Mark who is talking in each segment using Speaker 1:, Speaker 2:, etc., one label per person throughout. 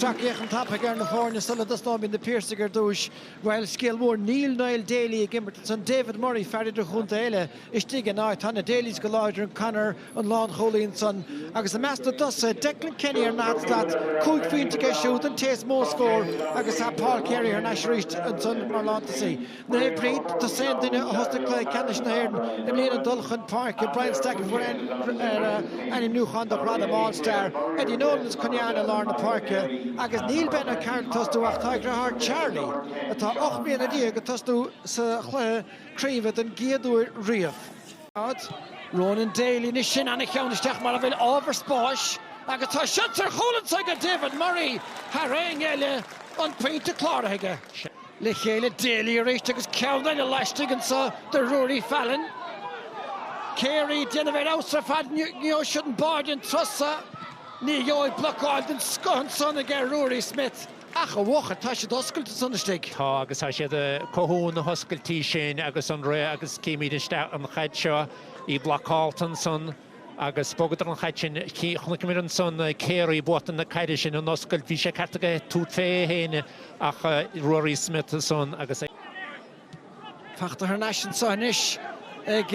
Speaker 1: Sracfhéachaint tapaidh ar na foirne sula dtosnóimid na Piarsaigh ar dtúis. Bhuel, scéal mór, níl Niall Daly ag imirt ansan, David Murray, fear idirchontae eile, istigh ina áit. Tá na Dalys go láidir ann, Conor, an lánchúlaí ansan. Agus i measc na dtosaithe, Declan Kenny ar an ndaichead slat, cúig phointe aige siúd, an té is mó scór, agus tá Paul Carey thar n-ais arís ansan mar lántosaí. Naomh Bríd, Is é an duine a thosaigh cluiche ceannais na hÉireann i mbliana ag dul chun páirce, Brian Stack a fuair ainmniúchán do ghradam All Star, Eddie Nolan is Cunnane i lár na páirce agus níl Ben O'Carroll ag tosnú ach tá a dhritheár Charlie, atá ocht mbliana déag, ag tosnú sa chluiche craoibhe don gcéad uair riamh. Ronan Daly, Anois sin an-cheann isteach mar a bhfuil ábhar spáis agus tá seans ar chúl anso ag David Murray, thar éinne eile, an pointe cláraithe aige. Le chéile Daly arís agus ceann eile laistigh anseo do Ruairí Fallon. Carey déanamh ar fheabhas ar fad, an ngeobhaidh siad an báide den turas so. Ní gheobhaidh blocáil den scoth ansan ag Ruairí Smith ach a bhuachaill tá siad oscailte ansan istigh. Tá agus tá siad ag cothú na hoscailtí sin agus an rith agus címid isteach an chaid seo. An bhlocáil ansan. Agus bhogadar an chaid sin. Chonaiceamar ansan Carey ag buachtaint na caide sin, an oscailt. Bhí an ceart aige tabhairt fé é fhéin ach Ruairí Smith ansan agus é. Fachta thar n-ais anso anois ag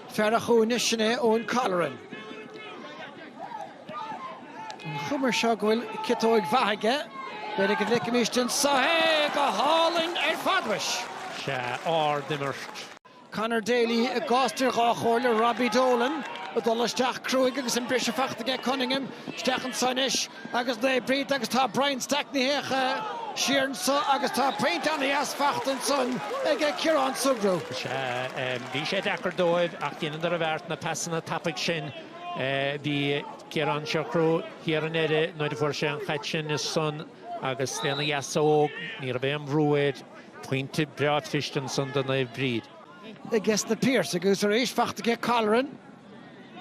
Speaker 1: fear a' chúinne, sin é Eoin Colleran. An chuma ar seo go bhfuil ciotóig mhaith aige. B'fhéidir go bhfeicfimist anso é! Go hálainn ar fad, mhuis! Sea, ard imirt. Conor Daly i gcás idir dhá chomhairle Robbie Dolan ag dul isteach cruaigh agus an briseadh fachta ag Cunningham isteach anso anois agus Naomh Bríd agus tá Brian Stack níos sia siar anso agus tá pointe ana dheas fachta ansan ag Ciarán Sugrue. Sea, bhí sé deacair dóibh ach dheineadar a bheart, na pasanna tapaidh sin. Bhí Ciarán Sugrue thiar i ndeire nuair a fuair sé an chaid sin ansan agus lena dheasóg ní raibh aon bhrú air, Pointe breá cliste ansan do Naomh Bríd. i gceist na Piarsaigh agus arís faighte ag Colleran.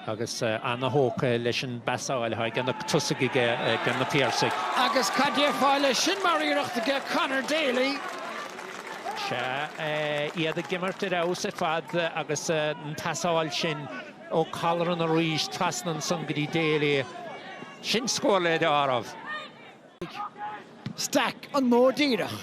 Speaker 1: agus an-thógtha leis an bpasáil atá ag na tosaigh aiges na Piarsaigh. Agus cad déarfá leis sin mar iarracht ag Conor Daly? Sea, iad ag imirt ar fheabhas ar fad agus an pasáil sin ó Colleran arís trasna ansan go dtí Daly, sin scór le dealramh. Stack, an modh díreach.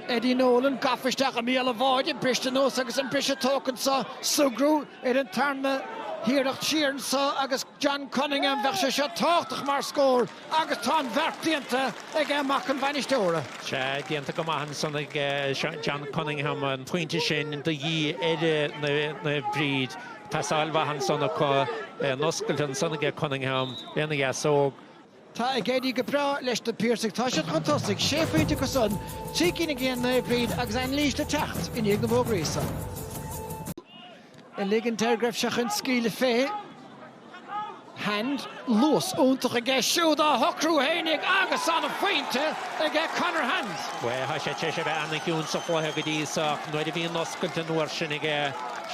Speaker 1: Eddie Nolan gafa isteach i mbéal an bháide, briste anuas agus an briseadh tógtha anseo. Sugrue ar an tarna hiarracht siar anseo agus John Cunningham, bheadh sé seo tábhachtach mar scór agus tá an bheart déanta ag mac an bhainisteora. Sea, déanta go maith ansan ag John Cunningham, an pointe sin de dhíth ar Naomh Bríd. Pasáil mhaith ansan acu, an oscailt ansan ag Cunningham lena dheasóg. Tá ag éirí go breá leis na Piarsaigh. Tá siad chun tosaigh, sé phointe acu san, trí cinn aige Naomh Bríd agus anailís le teacht i ndiaidh na bhfógraí san uilig. An deargreimh seo chun scaoileadh fé hand. Luas iontach aige siúd á shocrú fhéinig agus tá ana-phointe aige Conor Hand. Bhuel, tá sé tar éis a bheith an-chiúin sa chluiche go dtí seo ach nuair a bhíonn oscailt an uair sin aige,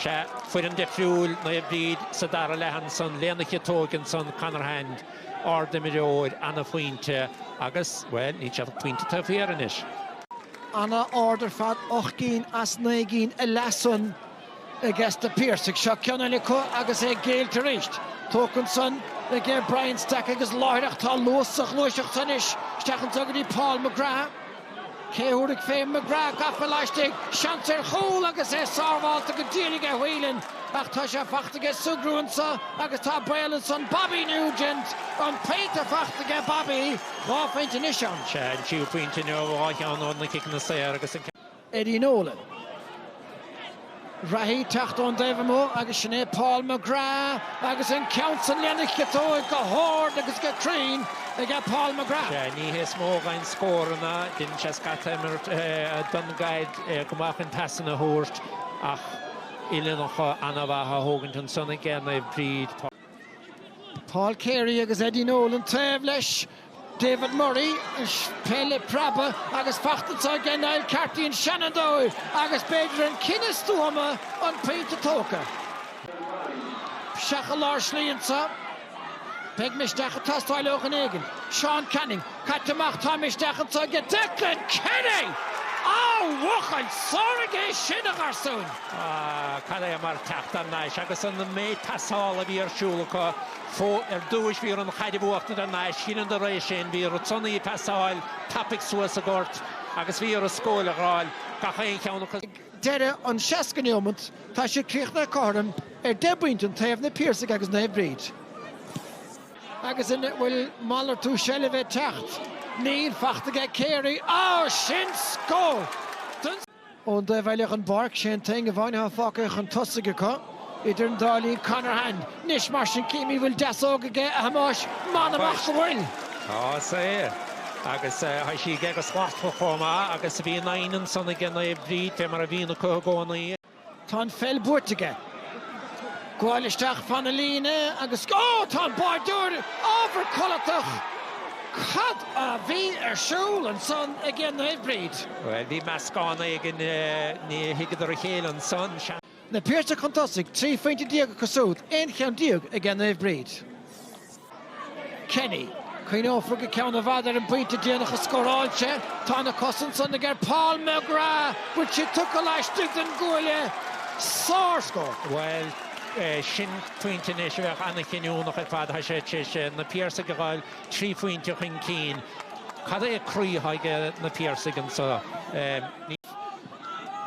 Speaker 1: sea, foireann difriúil, Naomh Bríd sa dara leath ansan, lena chiotóg ansan, Conor Hand. Ard-imreoir, ana-phointe agus, bhuel, níl siad ach pointe taobh thiar anois. An-ard ar fad, ocht gcinn as naoi gcinn ina leath san aiges na Piarsaigh. Seo ceann eile acu agus é caillte arís. Tógtha ansan ag Brian Stack agus láithreach tá luas sa ghluaiseacht san anois. Isteach anso go dtí Paul McGrath. Cé a thabharfaidh fé McGrath gaibhte laistigh? Seans ar chúl agus é sábháilte go díreach ag Whelan ach tá sé faighte aige Sugrue anseo agus tá baol ansan Bobby Nugent! An pointe faighte aige Bobby, dhá phointe anois ann. Sé an tríú pointe inniu, dhá cheann ó na ciceanna saor agus an. Eddie Nolan. Reathaí teacht ón dtaobh amuigh agus sin é Paul McGrath agus an ceann san lena chiotóig go hard agus go cruinn aige Paul McGrath. Sea, ní hé is mó a gheibheann scóranna, déanann sé scata imirt don gcaid go maith chun pasanna a thabhairt ach uillinneacha an-mhaith a thógaint ansan aige Naomh Bríd, Paul. Paul Carey agus Eddie Nolan taobh leis David Murray, peil ag preabadh agus faighte anso aige Niall Carty, an seanfhondúir agus b'fhéidir an cinneadh stuama an pointe tógtha. Isteach i lár slí anseo. Beidh misneach ag teastáil ó dhuine éigin. Seán Canning, caite amach. Tá misneach anseo aige Declan Kenny! Á a bhuachaill, sárchic é sin, a gharsúin! Cad é mar teacht thar n-ais agus an méid pasáil a bhí ar siúl acu. Ar dtúis bhí orthu an chaid a bhuachtaint thar n-ais. Dheineadar é sin, bhí orthu ansan í a phasáil tapaidh suas an gort agus bhí orthu scór a fháil, gach aon cheann acu. Ag deireadh an seasca neomat tá siad críochnaithe cothrom ar deich bpointe an taobh, Na Piarsaigh agus Naomh Bríd. Agus an bhfuil malartú seilbhe ag teacht? Níl, faighte aige Carey. Á! Sin scór don. Ón dtaobh eile den bpáirc, Shane Cunnane a bhainfidh an pháirc chun tosaigh acu. Idir an dá linn, Conor Hand. Anois mar sin, chífimid an bhfuil deasóg aige, a Thomáis? M'anam ach go bhfuil! Tá, is é. Agus tá sí aige go slachtmhar chomh maith agus bhí Cunnane ansan ag déanamh a oibre, fé mar a bhíonn acu i gcónaí. Tá an pheil buaite aige. Gabháil isteach fan na líne agus ó! Tá an báireoir ábhar codlatach. Cad a bhí ar siúl ansan aige Naomh Bríd? Bhuel, bhí meascán éigin, ní thuigeadar a chéile ansan. Na Piarsaigh chun tosaigh, 13 phointe acu siúd, aon cheann déag aige Naomh Bríd. Kenny. Cuimhneofar go ceann i bhfad ar an bpointe déanach a scóráil sé. Tá na cosa ansan aige Paul McGrath. Bhfuil sé tugtha laistigh den gcuaille? Sárscór. Bhuel, sin pointe anois a bheadh an-chinniúnach ar fad. Tá sé tar éis na Piarsaigh a dh'fháil trí phointe chun cinn. Cad é croí atá ag na Piarsaigh anso? Ní.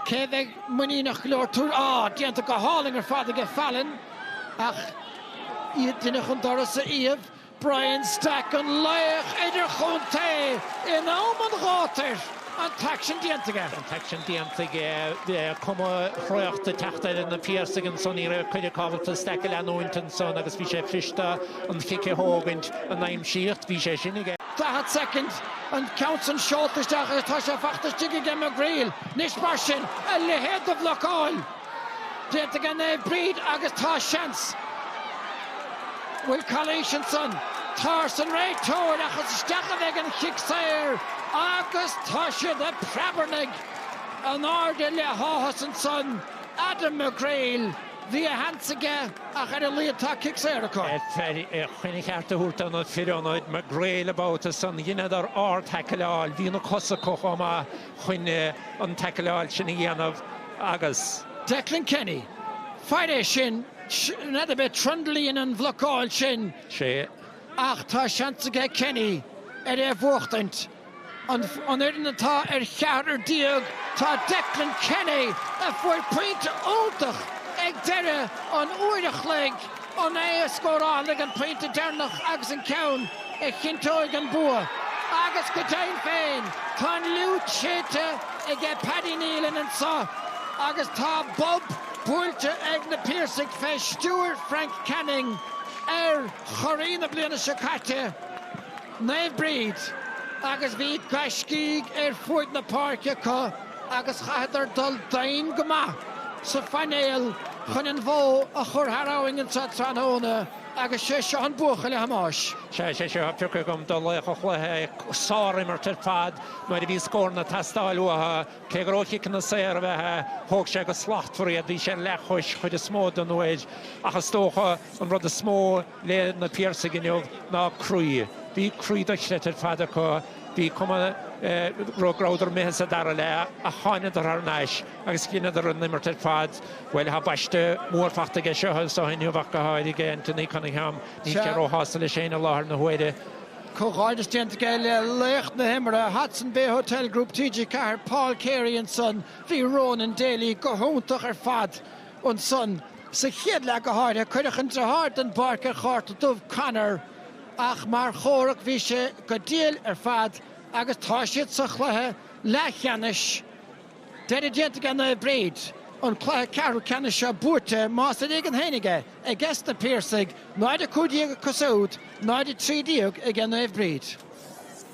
Speaker 1: Cé a bheidh muiníneach go leor tabhairt. Á! Déanta go hálainn ar fad aige Fallon ach. Iad duine chun doras a iamh. Brian Stack an laoch idirchontae in am an ghátair. An t-aicsean déanta aige. An t-aicsean déanta aige. Cuma thraochta ag teacht ar na Piarsaigh anso. Ní raibh Carey ábalta Stack a leanúint ansan agus bhí sé cliste an chic a thógaint an aimsíocht. Bhí sé sin aige. 40 soicind an ceann san seolta isteach agus tá sé fachta istigh aige McGreal. Anois mar sin, a leithéad de bhlocáil! Déanta aige Naomh Bríd agus tá seans. Bhfuil calaois ansan. Tá arsa an réiteoir ach is isteach a bheidh an chic saor agus tá siad ag preabarnaigh in airde le háthas ansan Adam McGreal. Bhí a sheans aige ach ar a laghad tá cic saor acu. Deirtear é chun a cheart a thabhairt do na fir ionaid McGreal an babhta san. Dheineadar ard-thaicleáil. Bhí na cosa acu chomh maith. chun an taicleáil sin a dhéanamh agus. Declan Kenny, Fair é sin, n'fheadar ab é Trundle a dhein an bhlocáil sin. sé. Ach tá seans aige Kenny ar é a bhuachtaint. An fhoireann atá ar cheathrar déag, tá Declan Kenny, a fuair pointe iontach ag deireadh an uair a chloig, An é a scórálfaidh an pointe deireanach agus an ceann a chinnteoidh an bua? Agus go deimhin féin tá an fhliúit séidte aige Paddy Neilan anso agus tá bob buailte ag na Piarsaigh fé stiúir Frank Canning ar churaí na bliana seo caite. Naomh Bríd, agus bhí gaiscígh ar fuaid na páirce acu agus chaitheadar dul doimhin go maith sa phainéal chun an bhó a chur thar abhainn anseo tráthnóna agus sé seo an buachaill, a Thomáis. Sea, sé seo atá pioctha agam do laoch an chluiche, sár-imirt ar fad nuair a bhí scóranna ag teastáil uathu. Cé go raibh chiceanna saor a bheith aige, thóg sé go slachtmhar iad, bhí sé ar leathchois cuid is mó den uair ach is dócha an rud is mó, le na Piarsaigh inniu ná croí. Bhí croí dochloíte ar fad acu. Bhí cuma go rabhadar imithe sa dara leath ach tháingadar thar n-ais agus dheineadar an-imirt ar fad. Bhuel thá baiste mór fachta aige seo agus seo inniu ach go h-áirithe. Anthony Cunningham, níl sé ró shásta leis féin i láthair na huaire. Comhghairdeas déanta aige le laoch na himeartha, Hodson Bay Hotel Group, TG4, Paul Carey ansan. Bhí Ronan Daly go hiontach ar fad. Ansan, sa chéad leath go háirithe, cuireadh an deartháir den bpáirc ar chárta dubh, Conor, ach mar chomhrac bhí sé go diail ar fad agus tá siad sa chluiche leathcheannais. Deireadh déanta ag Naomh Bríd, an cluiche ceathrú ceannais seo buaite, más ar éigean féin aige, aige sna Piarsaigh, 0, 15 acu siúd, 0, 13 ag Naomh Bríd.